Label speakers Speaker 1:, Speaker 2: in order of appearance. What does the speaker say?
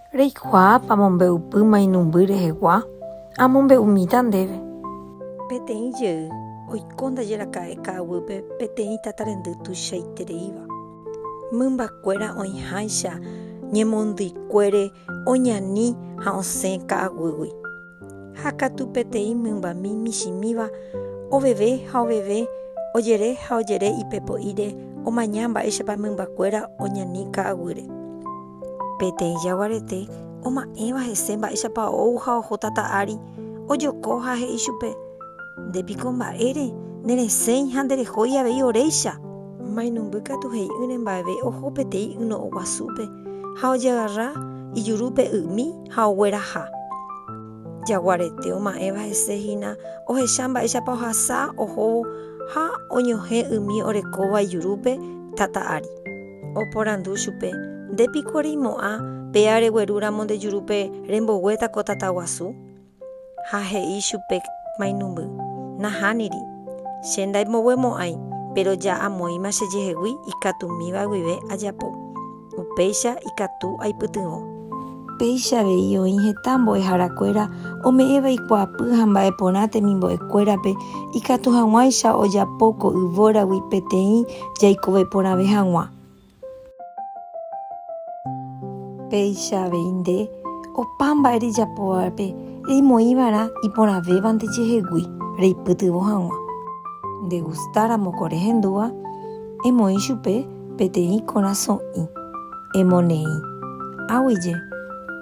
Speaker 1: Reikuaápa amombe'upy mainumby rehegua? Amombe'umíta ndéve. Peteĩ jey oiko ndajeraka'e ka'aguýpe peteĩ tatarendy tuichaitereíva. Mymbakuéra oĩháicha ñemondýikuére oñani ha osẽ ka'aguýgui. Ha katu peteĩ mymbami michĩmíva oveve ha oveve, ojere ha ojere ipe po'íre omaña mba'éichapa mymbakuéra oñani ka'aguýre. Peteĩ jaguarete oma'ẽva hese mba'éichapa ou ha oho tata ári, ojoko ha he'i chupe, Nde piko mba'ére, neresẽi ha nderehói avei oréicha! Mainumby katu he'i'ỹre mba'eve oho peteĩ yno'õguasúpe ha ojeagarra ijurúpe y'ymi, ha ogueraha. Jaguarete oma'ẽva hese hína ohecha mba'éichapa ohasa ohóvo ha oñohẽ umi orekóva ijurúpe tata ári. Oporandu chupe, Nde piko reimo'ã péa reguerúramo nde jurúpe remboguéta ko tata guasu? Ha he'i chupe mainumby, Nahániri. Che ndaimboguemo'ãi, péro ja amoĩma chejehegui ikatumíva guive ajapo. Upéicha ikatu aipytyvõ. Péicha avei oĩ heta mbo'ehára kuéra ome'ẽva ikuaapy ha mba'e porã temimbo'e kuérape ikatu haguãicha ojapo ko yvóragui peteĩ jaikove porãve haguã. Péicha avei nde, opa mba'e rejapovape reimoĩva'erã iporãvévante jehegui reipytyvõ haguã. Nde gusta ramo ko rehendúva, emoĩ chupe. peteĩ korasõ'i emoneĩ águije